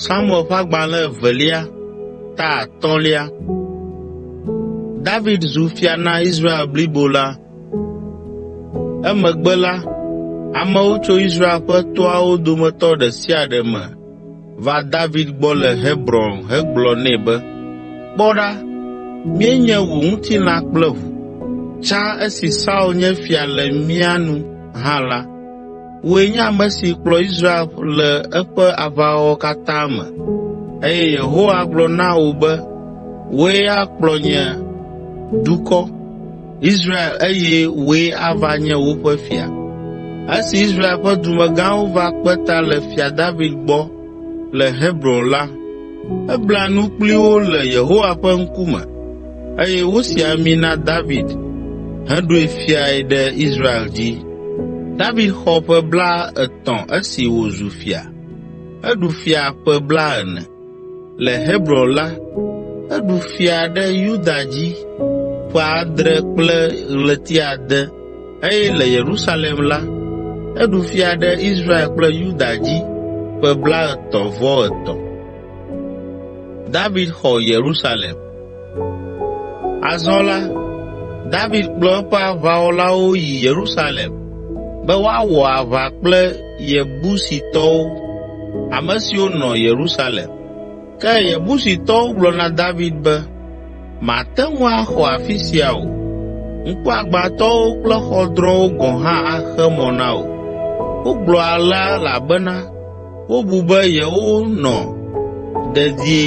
Samuel ƒe agbalẽ evelia ta atɔ̃lia. David zu fia na Israel blibo la. Emegbe la, amewo tso Israel ƒe toawo dometɔ ɖe sia ɖe me va David gbɔ le Hebron hegblɔ nɛ be, “Kpɔ ɖa, míenye wò ŋutilã kple ʋu. Tsã esi Saul nye fia le mía nu hã la, wòe nye ame si kplɔ Israel le eƒe aʋawɔwɔ katã me eye Yehowa gblɔ na wò be, ‘Wòe akplɔ nye dukɔ.’ Israel eye wòe ava nye woƒe fia. Esi Israel ƒe dumegãwo va kpe ta le Fia David gbɔ le Hebron la, ebla nu kpli wo le Yehowa ƒe ŋkume eye wosi ami na David heɖoe fiae ɖe Israel dzi. David xɔ ƒe blaetɔ̃ esi wòzu fia. Eɖu fia ƒe blaene. Le Hebron la, eɖu fia ɖe Yuda dzi ƒe adre kple ɣleti ade eye le Yerusalem la, eɖu fia ɖe Israel kple Yuda dzi ƒe blaetɔ̃-vɔ-etɔ̃. Azɔ la, David kplɔ eƒe aʋawɔlawo yi Yerusalem be woawɔ aʋa kple Yebusitɔwo, ame siwo nɔ Yerusalem. Ke Yebusitɔwo gblɔ na David be, “Màte ŋu axɔ afi sia o. Ŋkuagbãtɔwo kple xɔdrɔ̃wo gɔ̃ hã axe mɔ na wò.” Wogblɔ alea elabena Wobu be yewonɔ dedie,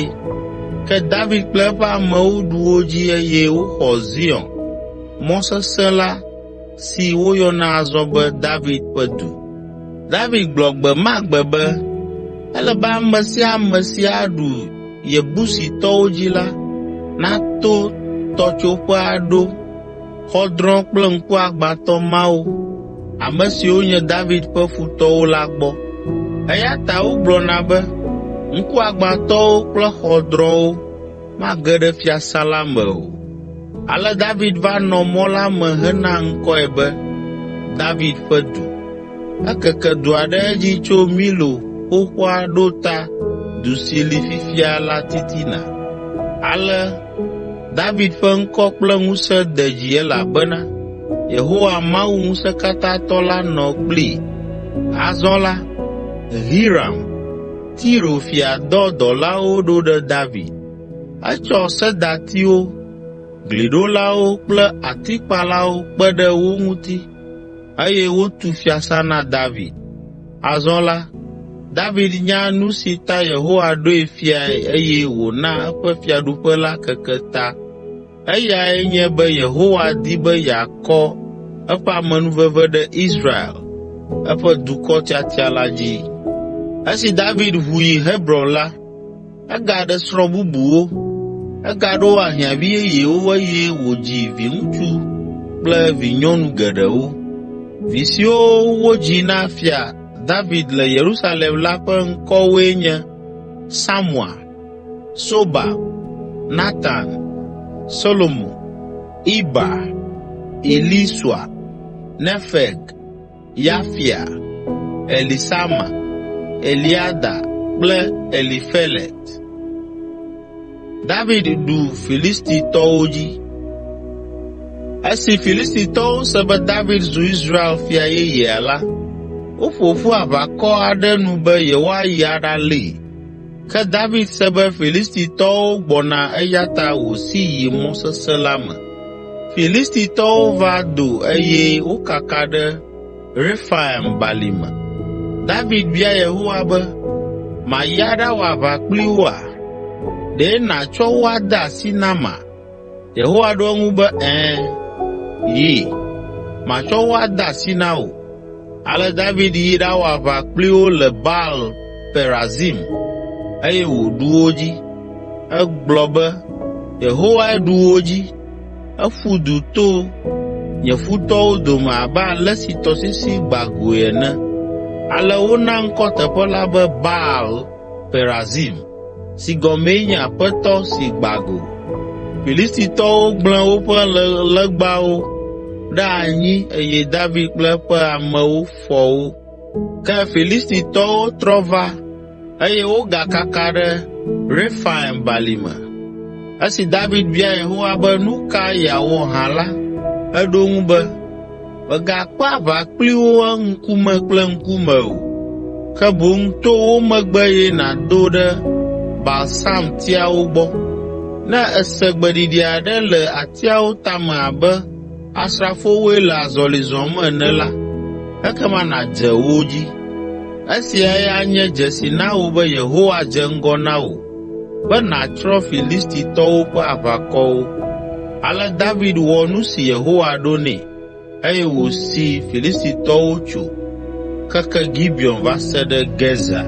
ke David kple eƒe amewo ɖu wo dzi eye woxɔ Zion, mɔ sesẽ la, si woyɔna azɔ be David ƒe Du. David gblɔ gbe ma gbe be, “Ele be ame sia ame si aɖu Yebusitɔwo dzi la, nato tɔtsoƒe aɖo.” xɔdrɔ̃ kple ŋkuagbãtɔ mawo, ame siwo nye David ƒe futɔwo la gbɔ. Eya ta wogblɔna be, ‘Ŋkuagbãtɔwo kple xɔdrɔ̃wo mage ɖe fiasã la me o.’ Ale David va nɔ mɔ la me hena ŋkɔe be, David Ƒe Du. Ekeke dua ɖe edzi tso Milo xoxoa ɖo ta du si li fifia la titina. Ale David ƒe ŋkɔ kple ŋusẽ de dzi elabena Yehowa Mawu Ŋusẽkatãtɔ la nɔ kplii. Azɔ la, Hiram, Tiro fia dɔ dɔlawo ɖo ɖe David. Etsɔ sedatiwo, gliɖolawo kple atikpalawo kpe ɖe wo ŋuti eye wotu fiasã na David. Azɔ la, David nya nu si ta Yehowa ɖoe fiae eye wòna eƒe fiaɖuƒe la keke ta. Eyae nye be Yehowa di be yeakɔ eƒe amenuveve ɖe Israel, eƒe dukɔ tiatia la dzi. Esi David ʋu yi Hebron la, Egaɖe srɔ̃ bubuwo, egaɖo ahiãvi yeyewo eye wòdzi viŋutsu kple vinyɔnu geɖewo. Vi siwo wodzi na Fia David le Yerusalem la ƒe ŋkɔwoe nye Samua, Sobab, Natan, Solomo, Iba, Elisua, Nefeg, Yafia, Elisama, Eliada kple Elifelet. David ɖu Filistitɔwo dzi. Esi Filistitɔwo se be David zu Israel fia yeyea la, woƒo ƒu aʋakɔ aɖe nu be yewoayi aɖalée. Ke David se be Filistitɔwo gbɔna eya ta wòsi yi mɔ sesẽ la me. Filistitɔwo va do eye wokaka ɖe Refaim balime. David bia Yehowa be, “Mayi aɖawɔ aʋa kpli woa? Ɖe nàtsɔ wo ade asi nama?” Yehowa ɖo eŋu be, “Ẽ, yi, matsɔ wo ade asi na wò.” Ale David yi ɖawɔ aʋa kpli wo le Baal Perazim eye wòɖu wo dzi. Egblɔ be, “Yehowae ɖu wo dzi. Eƒu du to nye futɔwo dome abe ale si tɔsisi gbã goe ene.” Ale wona ŋkɔ teƒe la be Baal Perazim, si gɔmee nye Aƒetɔ si gbã go. Filistitɔwo gblẽ woƒe legbawo ɖe anyi eye David kple eƒe amewo fɔ wo. Ke Filistitɔwo trɔ va eye wogakaka ɖe Refaim balime. Esi David bia Yehowa be, “Nu ka yeawɔ hã?” la, eɖo eŋu be, Mègakpe aʋa kpli wo ŋkume kple ŋkume o, ke boŋ to wo megbe eye nàdo ɖe balsamtiawo gbɔ. Ne èse gbeɖiɖi aɖe le atiawo tame abe asrafowoe le azɔli zɔm ene la, ekema nàdze wo dzi. Esiae anye dzesi na wò be Yehowa dze ŋgɔ na wò be nàtsrɔ̃ Filistitɔwo ƒe aʋakɔwo.” Ale David wɔ nu si Yehowa ɖo nɛ eye wòsi Filistitɔwo tso keke Gibeon va se ɖe Gezer.